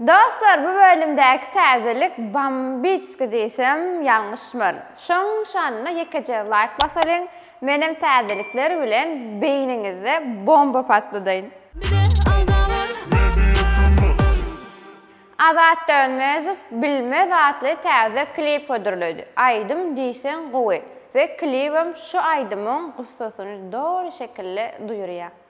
Dostlar bu bölümdäki täzelik bombicki diýsem ýalňyşmaryn. Şoň şanyna ýekeje laýk basalyň, menem täzelikler bilen beýniňizde bomba patladaýyn. Bize agza bol. Azat Dönmezow Bilmez atly täze klip hödürledi. Aýdym diýseň gowy we klibem şu aýdymyň gussasyny doly şekilde duýurýar.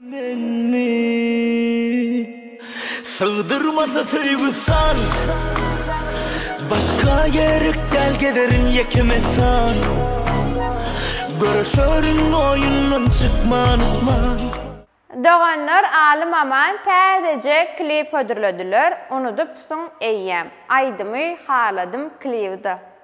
Menmi? Sygdyrmasa söýgi san Başga gerek däl gederin ýeke mekan Görüşerin oýundan çykman ykman. Doganlar Alym Aman täzeje klip hödürlediler Unudypsyň eýýäm. Aýdymy haladym klibida.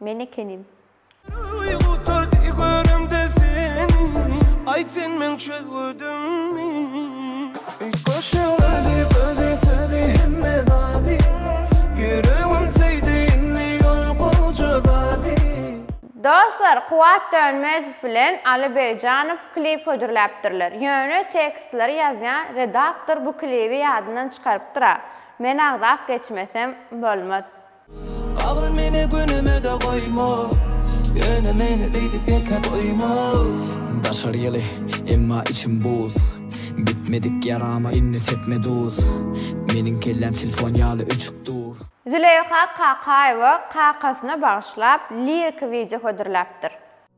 Men ekenim. Gutardy göremde seni, aýt sen meň çöl gödümi. Goşulydy gözi sözi hemme zady, ýüregim söýdi indi ol goja zady. Dostlar Kuwat Dönmezow bilen Aly Begjanow klip hödürläpdirler. Ýöne tekstleri ýazýan redaktor bu klibi ýadyndan çykarypdyra. Men agzap geçmesem bolmaz. Gabyl meni günüme-de goýma, Ýöne meni beýdip ýeke goýma. Daşary ýyly, emma içim buz, Bitmedik ýarama indi sepme duz, Meniň kelläm silfon ýaly öçük dur. Züleýha Kakaýewa kakasyna bagyşlap liriki wideo hödürläpdir.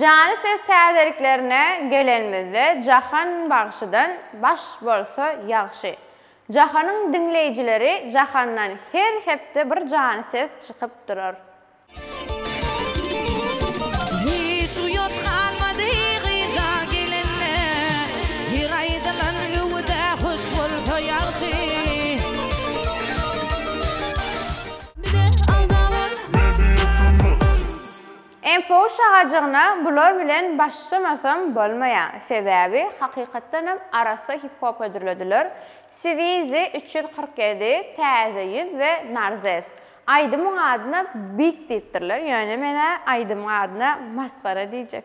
Jany ses täzeliklerine gelenimizde Jahan bagşydan baş bolsa ýagşy. Jahanyň diňleýjileri Jahandan her hepde bir jany ses çykyp durar. Hiç uýat galmady gyza gelende Her aýdylan öwüde hoş bolsa ýagşy. Info şagajygyna bular bilen başlamasam bolmaýa, sebäbi hakykatdanam arassa hip-hop hödürlediler, Swizi üç ýüz kyrk ýedi, Täze ýüz we Narzes. Aýdymyň adyna Big diýipdirler, ýöne men-ä aýdymyň adyna Masgara diýjek.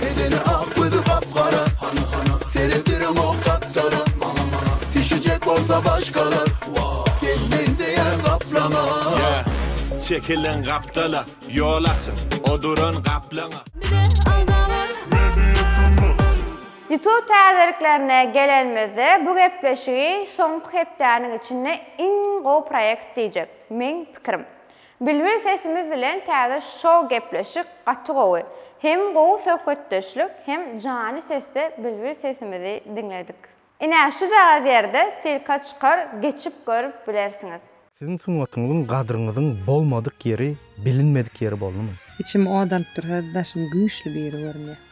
Bedeni ak gözi gap gara Hana hana Seretdirem o kaptara Mana mana Pişecek bolsa başkalar Sen benzeyen kaplama Çekilen kaptala Yol açın O duran kaplana Youtube täzeliklerine gelenimizde bu gepleşigi soňky hepdäniň içinde iň gowy proýekt diýjek, meň pikirim. Bilbil sesimiz bilen täze show gepleşik gaty gowy. Hem gowy söhbetdeşlik hem jany sesde bilbil sesimizi diňledik. Ine şujagaz ýerde silka çykar geçip görüp bilersiňiz. Siziň sungatyňyzyň gadryňyzyň bolmadyk ýeri bilinmedik ýeri boldumy. Içim ot alyp dur hezil daşym güýçli biri görünýä.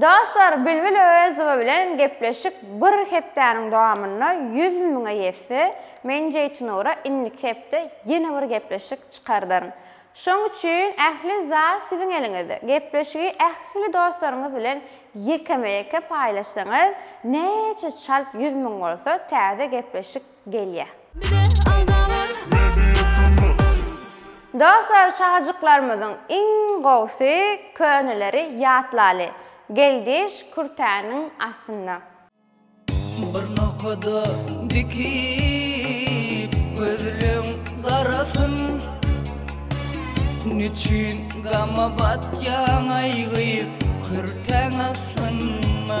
Dostlar Bilbil Öwezowa bilen gepleşik bir hepdäniň dowamynda ýüz müňe ýetse, men Jeýtunura indiki hepde ýene bir gepleşik çykardaryn. Şoň üçin ähli zat siziň eliňizde. Gepleşigi ähli dostlaryňyz bilen ýekeme-ýeke paýlaşsaňyz, näçe çalt ýüz müň bolsa täze gepleşik gelýär. Dostlar şajyklarymyzyň iň gowsy köneleri ýatlaly Geldiş kürtäniň astynda. Bir nokada dikip gözleň garasyn Niçün gama batýaň aý gyz kürtäň astynda.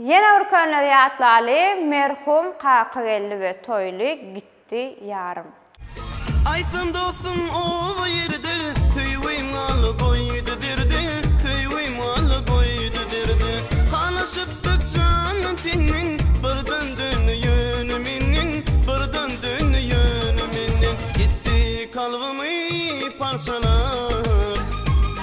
Ýene bir könleri ýatlaly, Merhum Kakageldi we Toýly gitdi ýarym. Aýtsyn dostum oba ýerde, Söýgim al goýdy derde, Söýgim al goýdy derde. Halaşypdyk jandan teňden, Birden döndi ýöne menden, Birden döndi ýöne menden. Gitdi kalbymy parçalap,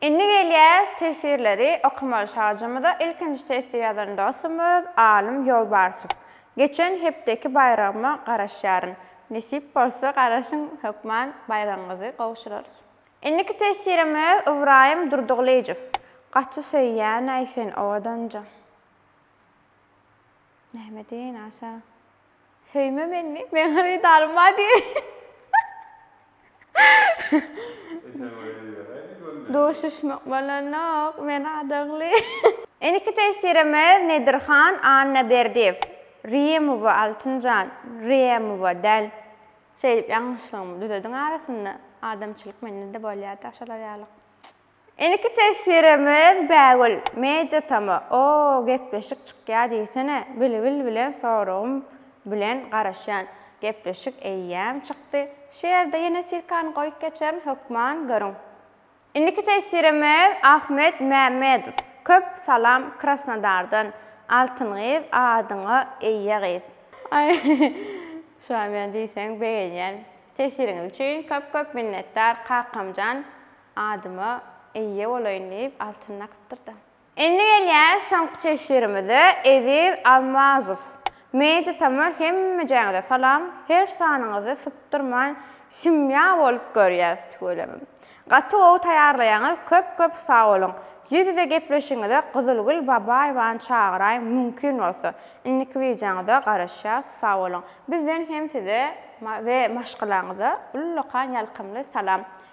Indi gelýäs teswirleri okamaly şagjymyza ilkinji teswir ýazan dostum öz Alym Ýolbarsov. Geçen hepdeki baýragyma garaşýaryn. Nesip bolsa garaşyň hökman baýragyňyzy gowşurarys. Indiki teswirim öz Ybraýym Durdygylyjow. Gaty söýýänäý sen owadanja. Näme diýeýin aşa. Söýme menni, men hyrydarym bar diýip. Duşuşmak bolanok, men adagly. Indiki tesirimiz Nedirhan Annaberdiýew. Rýemowa Altynjan, Rýemowa däl. Şeýdip ýalňyşlygymy düzediň arasynda. Adamçylyk mende-de bolýa-da şolar ýaly. Indiki teswirimiz Bägül, Media Tama, oo gepleşik çykýa diýsene Bilbil bilen soragym bilen garaşýan gepleşik eýýäm çykdy şu ýerde ýene silkany goýup geçerin hökman görüň. Indiki teswirimiz Ahmet Mämmedow, köp salam Krasnodardan Altyn gyz adyňa eýe gyz. Aý şuam ýa diýseň begenýän. Teswiriňiz üçin köp köp minnetdar kakamjan. Adyma eýe bolaýyn diýip altyn nakypdyr-da. Indi gelýäs soňky teşhirimize, Eziz Almazow. Media Tama hemmejäňize salam, her sanyňyzy sypdyrman simýa bolup görýäs tüweleme. Gaty gowy taýýarlaýaňyz, köp köp sag boluň. Ýüz ýüze gepleşigiňize Gyzylgül Babaýewany çagyraýyň mümkin bolsa. Indiki wideoňyza garaşýas, sag boluň. Bizden hem size we maşgalaňyza ullakan ýalkymly salam.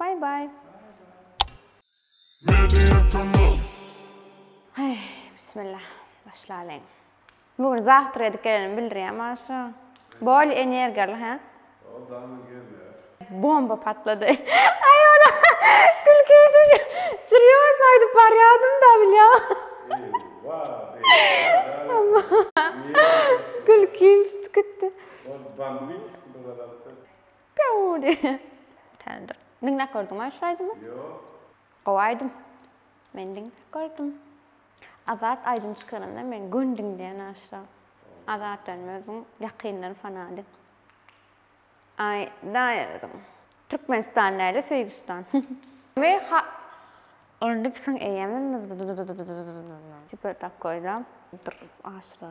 Bye bye. Heý, bismilla, başlalyň. Bu gün zawtr edip gelenimi bildirýär maňa şu. Bol energiýaly, hä? Ol dagny gelýär. Bomba patlady. Aý ony gülki edip, serýozno aýdyp barýadym-da bilýäňmi? Gülkim tutup gitdi. Pýuu diýýä. Bitänder. Diňläp gördüňmi şu aýdymy? Ýok. Gowy aýdym. Men diňläp gördüm. Azat aýdym çykaranda men gün diňleýän aşra. Azat benim özüň ýakyndan fanady. Aý daýy özüň. Türkmenistan däli Söýgüstan. Weý ha Onda pisiň eýemi. Tipe takoýda. Dur aşra.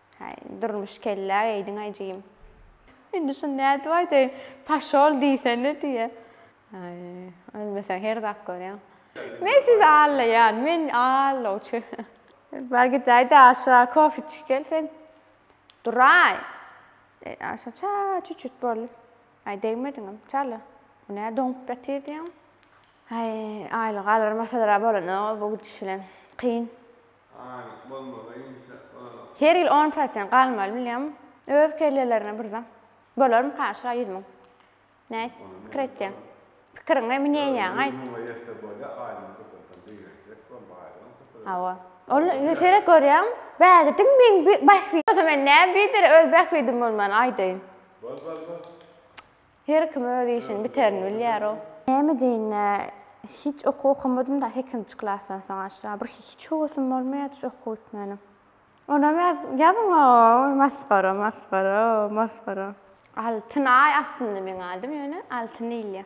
Haý, Durmuş kellä geýdiň ajyym. Indi şuny nädip aýdaýyn? Paşol diýsene diýýä. Haý, ölmeseň her zat görýäň. Men sizi allaýan, men allawçy. Bar gidäý-de aşa kofe içip gel sen. Duraý! Aşa ça çüçüt boldy. Haý, degmediňem, çala. Bu nä doňup ýatyr diýýäň? Haý, aýlygy alarmasalar-a bolanok bu gidiş bilen. Kyn. Aýlyk bolmasa inşa Allah. Her ýyl on prosent galmaly bilýäň öz kellelerine bir zat bolarmyka şa ýüz müň nät pikir etýäň pikiriňe mneýaň aýt. Ýüz müňe ýetse bolýa aýlygyň köpelseň begenjek bol baýlygyň köpelsin. Hawa ol seret görýäň bägediň meň bähbidim bolsa men näme bider öz bähbidim bolman aýdaýyn. Bol bol bol. Her kim öz işini biterini bilýärow. Näme deýin-ä, hiç okuw okamadym-da sekizinji klasdan soň aşa. Bir hiç höwesim bolmaýardy şu okuw gitmänem. Onam ýaz, ýazyň-ow, masgara, masgara, masgara. Altyn-aý aslynda meň adym, ýöne Altyn diýilýär.